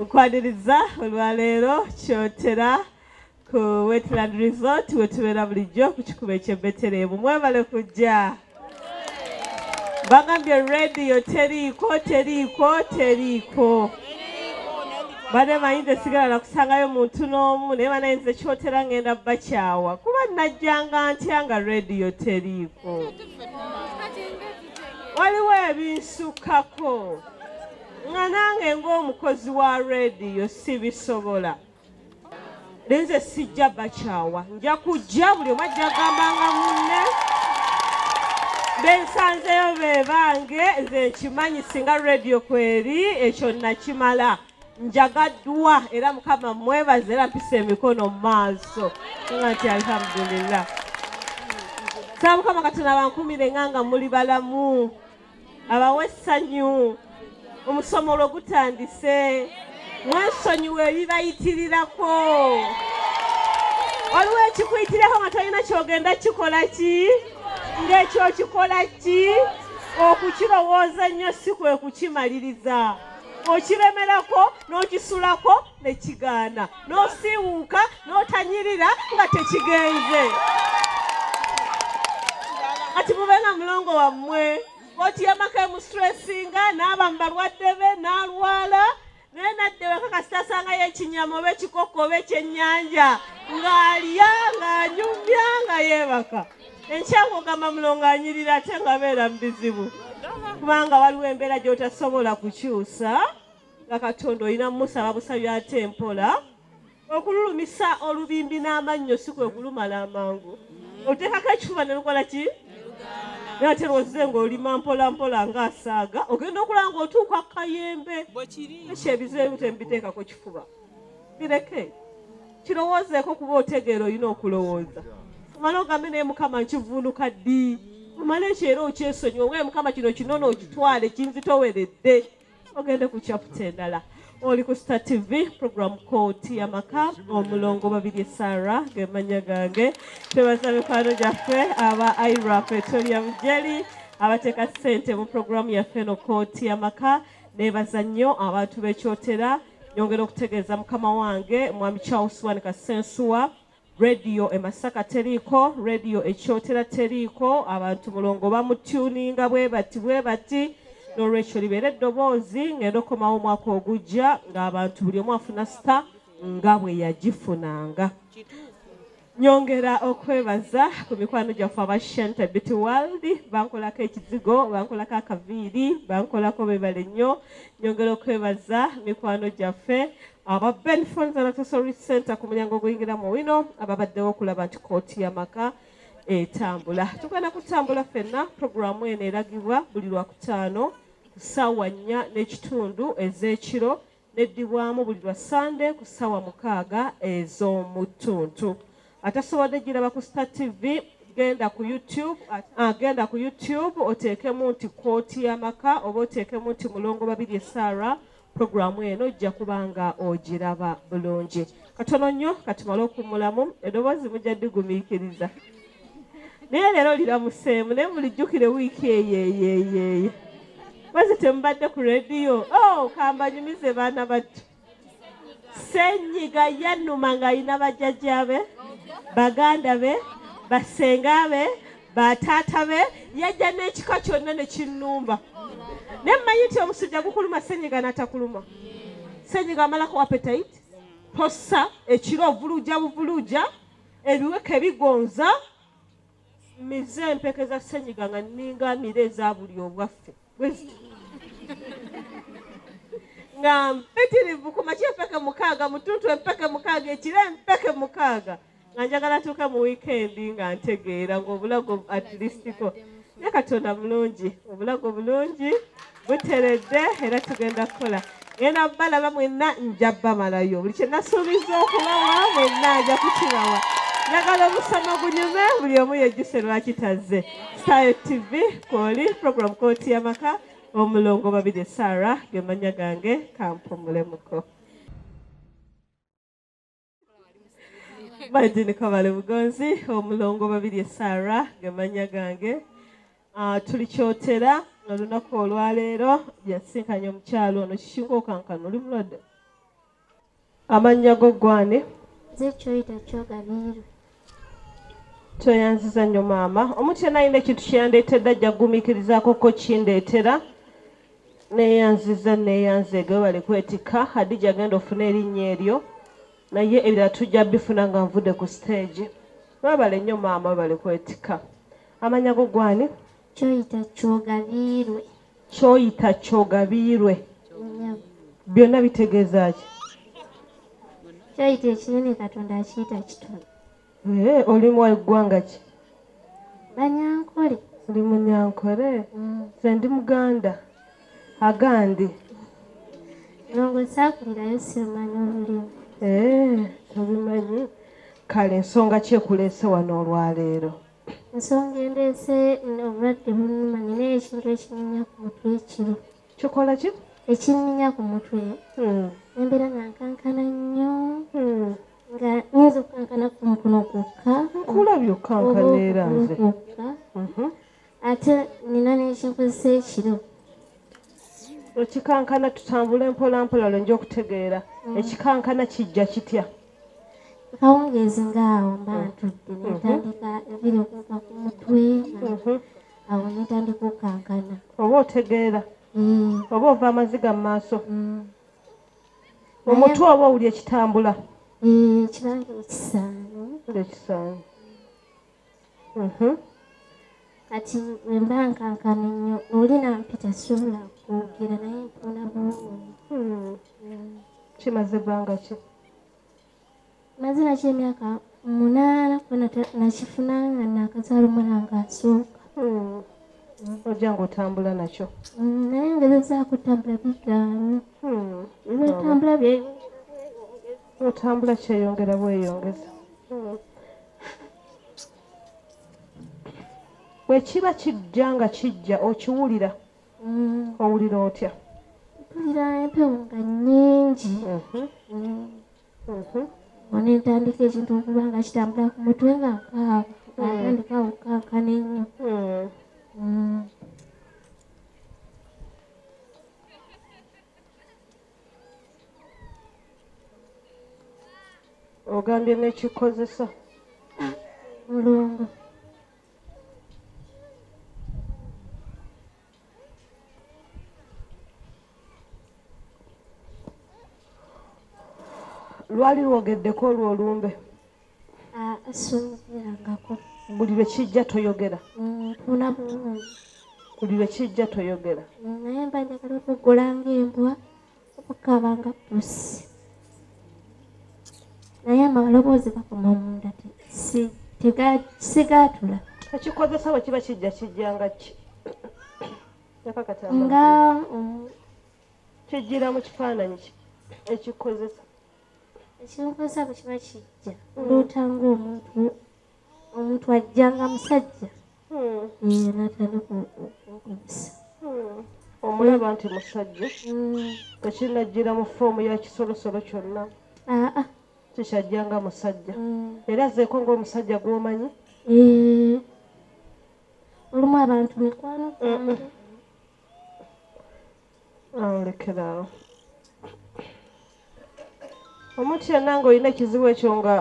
okwaniriza olwaleero kyotera ku wetland resort wetubeera bulijjo ku kikuba ekyebetereemu mwebale kujja bagambye radio teriiko teriiko teriiko bane mayinza esigala nakusangayo muntu n'omu naye banayinza ekyotera ngenda bakyawa kuba najjanga ntya nga radio teriiko waliwo ebinsukako nga nange ng'omukozi wa rediyo sibisobola naye nze sijja bakyawa nja kujja buli omu ajja gambanga munne bensanzeyo bebange nze nkimanyi singa rediyo kweri ekyo nakimala e njagaddwa era mukama mwebaza era mpisa emikono mu maaso nga nti alhamdulillah saa mukama katonda bankumire nga nga muli balamu abawe essanyu omusomo olwo gutandise mwesonyiwa ebibayitirirako waliwo ekikuyitirako nga tolina kyogenda kikola ki ng'ekyo okikola ki okukirowooza nnyo si kwe kukimaliriza okiremerako n'okisulako ne kigaana n'osiiwuuka n'otanyirira nga tekigenze kati mube nga mulongo wammwe koti yamaka emusitresinga n'aba mu balwadde be n'alwala naye nadde weka kasita asangayo ekinyama oba ekikokko oba ekyennyanja ng'alya ng'anyumya nga yeebaka enkyakugamba mulongo anyirira ate nga beera mu bizibu kubanga waliwo embeera gy'otasobola kukyusa nga katonda olina mumusaba busabi ate mpola okululumisa olubimbi n'amannyo si kwe kulumala amangu oteekako ekifuba ne lukola ki naye ate lwozize ng'olima mpola mpola ng'asaaga ogenda okulaba ng'otuuka kayembe ekyo ebizeeyo temubiteekako kifuba bireke kirowoozeeko kuba otegeera olina okulowooza omala ogambe naye mukama nkivuunuka ddi omala ekyo era okyesonyiwa owe mukama kino kinona okitwale kinzitoweredde ogende ku kyaputa endala oli ku star tv program kooti yamaka omulongo babiri sara gemanya gange twebaza mikwano gyaffe aba ira petroleum jeli abateeka ssente mu programu yaffe no kooti yamaka nebaza nnyo abantu bekyotera nyongera okutegeeza mukama wange mwami charles wan kasensuwa rediyo emasaka teriiko rediyo ekyotera teriiko abantu mulongo bamutuninga bwe bati bwe bati nolwekyo libeera eddoboozi ngenda okukomawo omwaka ogujja ng'abantu buli omu afuna sita nga bwe yagifunanga Nyongera okwebaza ku mikwano gyaffe aba Shente Beauty World bankolako ekizigo bankolako akaviiri bankolako bebale nnyo nyongera okwebaza mikwano gyaffe aba Ben Phones and Accessories Center ku mulyango oguyingira mu wino ababaddewo okulaba nti kooti y'amaka etambula tugenda kutambula fenna puroguramu eno eragibwa buli lwakutaano ku ssaawa nnya n'ekitundu ez'ekiro neddibwamu buli lwa ssande ku ssaawa mukaaga ez'omu ttuntu atasobodde giraba ku star tv genda ku youtube uh, genda ku youtube oteekemu nti kooti y'amaka oba oteekemu nti mulongo babiri esara puroguramu eno ojja kuba nga ogiraba bulungi katono nnyo katumale okummulamu edoboozi mujja digumiikiriza naye leero liramuseemu naye mulijjukire wiiki eyeyeyeeye mwezi temubadde ku rediyo o oh, kambanyumize baana battu senyiga yanuma ng'alina bajjajja be baganda be basenga be bataata be yajja n'ekika kyonna ne kinnumba naye mmanyi nti omusujja gukuluma senyiga n'atakuluma senyiga amalako apetite posa ekiro ovuluja buvuluja ebiweke bigonza mize empeke za senyiga nga ninga mire eza buli obwaffe nga mpitirivu ku maki empeke mukaaga mutuntu empeke mukaaga ekiro empeke mukaaga nga njagala tuuke mu wiikendi nga ntegeera ngaobulago atleastiko ne katonda mulungi obulago bulungi muteredde era tugenda kukola ngenda balaba mwenna nja bamalayo buli kyenasuubiza okubawa mwenna nja kukibawa njagala omusama gunyume buli omu yejjuse lwaki tazze style tv kwoli program kooti yamaka omulongo babiri sara gemanya gange kampumule muko Martin Kabale Bugonzi omulongo babiri esara gemanya gange ah, tuli kyotera olunaku olwaleero yasisinkanye omukyalo ono kishinga okankana oli mulwadde amannya go gwani zekyoyita kyoganirwe tweyanziza nnyo maama omuntu yena alina ekintu kyeyandeetedde ajja kugumiikirizaako ko kindeetera neyanziza neyanzeege webale kwetikka hadija agenda ofuna erinnya eryo naye ebirala tujja bifuna nga nvudde ku siteegi webale nnyo maama webale kwetikka amanya go gwani kyoyita kyogabiirwe kyoyita kyogabiirwe byonna bitegeeza ki kyoyita ekinene katonda akiyita kitono eh, oli mu eggwanga ki banyankole ndi munyankole mm. nze ndi muganda agandi nongo sakulirayo simanyi olulimi eh, tobimanyi kale ensonga kyekulese wano olwaleero ensonga endeese obulwadde bunuma nina ekintu ekinyinya ku mutwe ekiro kikola ki ekinyinya ku mutwe hmm. embeera nga nkankana nnyo hmm. nga nyinza okukankana ku mukono gwokka kulabye okukankana era nze mhm. ate nina nekinkozesa ekiro ekikankana tutambule mpolampola lwenja okutegeera hmm. ekikankana kijja kitya kawungeezi ngaawo mba ntudde netandika ebiri okuva ku mutwe mhm. awo netandika okukankana oba otegeera mm. oba ova amaziga mu maaso mm. omutwe oba owuli ekitambula mm, ekibange ekisaano ekisaano kati wemba nkankana nnyo oli nampita sobola kwogera naye mpona bulungi hmm. kimaze ebbanga ki maze naki emyaka munaana kubona nakifuna nga nakazaala omwana nga asooka hmm. ojja nga otambula nakyo hmm, naye ngezezaako otambula bigaano lwetambula byeyongera otambula kyeyongera bweyongeza bwekiba kijja nga kijja okiwulira mm. owulira otya mpulira empewo nga nyingi mhm. mm. mhm. one ntandika ekintu okuba nga kitambula ku mutwe nga ntandika mm. okukankana ennyo ogambye nekikozesa mulongo lwali lwogeddeko olwo olumbe ah, soyogerangako buli lwe kijja toyogera mm, tuna bulungi buli lwe kijja toyogera mm, naye mba njagala okugula ngaembwa okukaba nga pusi naye amaloboozi gakoma munda sigatula ekikozesa bwe kiba kijja kijjanga ki nga um, kijjira mu kifaananyi ekikozesa ekimubuuza bwe kiba kijja oloota ngaomuntu omuntu ajja nga musajja hmm. natandika okukozesa hmm. omulaba nti musajja hmm. tekinajjira mu foomu ya kisolosolo kyonna ah, ah. kikyajja nga musajja era azeeko ngaomusajja gwomanyi eh. olumu abantu mikwano awo lekeraawo omuntu yenna ng'olina ekizibu ekyo nga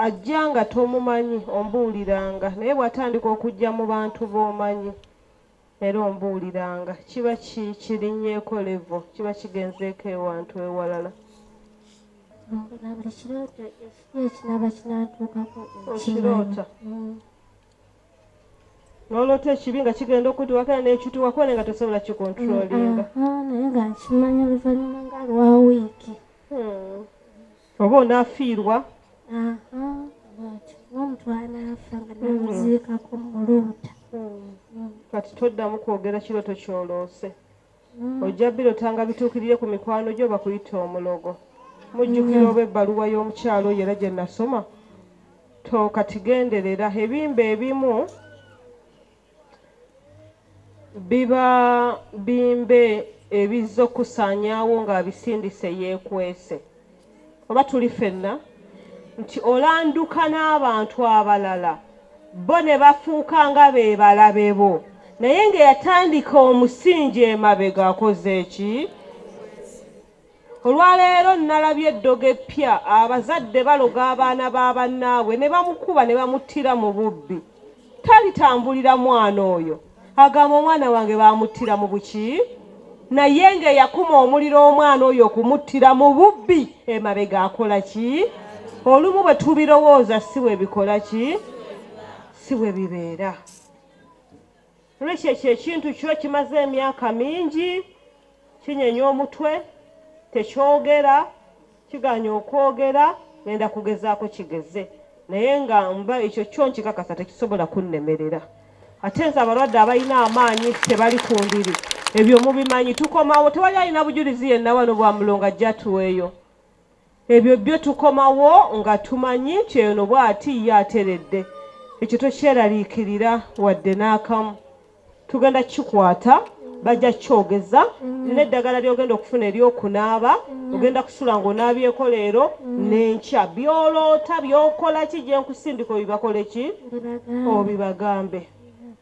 ajja nga tomumanyi ombuuliranga naye bw'atandika okujja mu bantu b'omanyi era ombuuliranga kiba kirinyeeko levo kiba kigenzeeko ewantu ewalala ekirooto ekinaba kinatuukako ekiroota mm. nolota ekibi nga kigenda okutuwakana nekituwako naye nga tosobola kikontrolinga mm, mm, naye nga nkimanya oluvanyuma nga lwa wiiki hmm. oba onafiirwa omuntu anaafa nga namuziikako hmm. muluuta hmm. kati toddamu kwogera kirooto kyoloose Mm. ojja birota nga bituukirire ku mikwano gyo bakuyita omulogo mujjukira mm. oba ebbaluwa y'omukyalo oyo era gye nasoma tokatigenderera ebimba ebimu biba bimbe ebizza okusaanyaawo ng'abisindise yeekwese oba tuli fenna nti olanduka n'abantu abalala bo ne bafuuka nga be balabe bo naye ng'eyatandika omusingi emabega akoze eki olwaleero nnalabye eddogo eppya abazadde baloga abaana ba bannaabwe ne bamukuba ne bamuttira mu bubbi talitambulira mwana oyo agamba omwana wange bamuttira mu buki naye ngaeyakuma omuliro omwana oyo okumuttira mu bubbi emabega akola ki olumu bwe tubirowooza si bwe bikola ki si bwe bibeera lwekyo ekyo ekintu kyo kimaze emyaka mingi kinyenya omutwe tekyogera kiganya okwogera ngenda kugezaako kigeze naye nga mba ekyo kyo nkikakasa tekisobola kunnemerera ate nze abalwadde abalina amaanyi tebali ku ndiri ebyo mubimanyi tukomawo tewali alina bujulizi yenna wano bwa mulongo ajja tuweeyo ebyo byo tukomawo nga tumanyi nti eno bw'ati ye ateredde ekyo tokyeraliikirira wadde n'akamu tugenda kikwata bajja kyogeza mm. neddagala lyogenda okufuna eryokunaaba mm. ogenda kusula ngaonaabyeko leero mm. nenkya byoloota byokola ki gyenkusindika obibakoleki obibagambe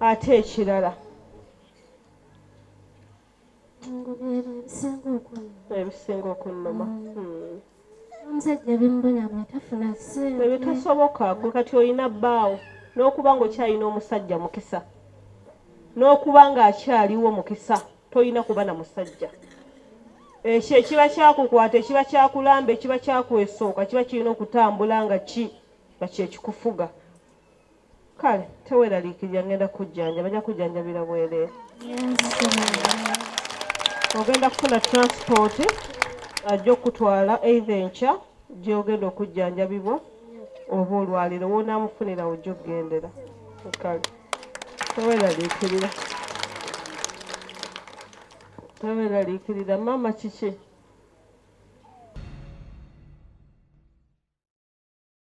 ate ekirala ebisinga okunnuma mm. hmm. omusajja bimubonyamu atafuna sente ebitasoboka gwe kati olina bbaawo n'okuba ng'okyalina omusajja mukisa n'okuba ng'akyaliwo mukisa tolina kuba na musajja ekyo ekiba kyakukwata ekiba kyakulamba ekiba kyakwesooka kiba kirina okutambula nga ki nga kyekikufuga kale teweraliikirira ngenda kujjanja bajja kujjanjabira bwereere ogenda kufuna transport ajja okutwala eitha enkya gyogenda okujjanjabibwa oba olwaliro wonamufunira ojja okugendera kale teweraliikirira teweraliikirira maama kiki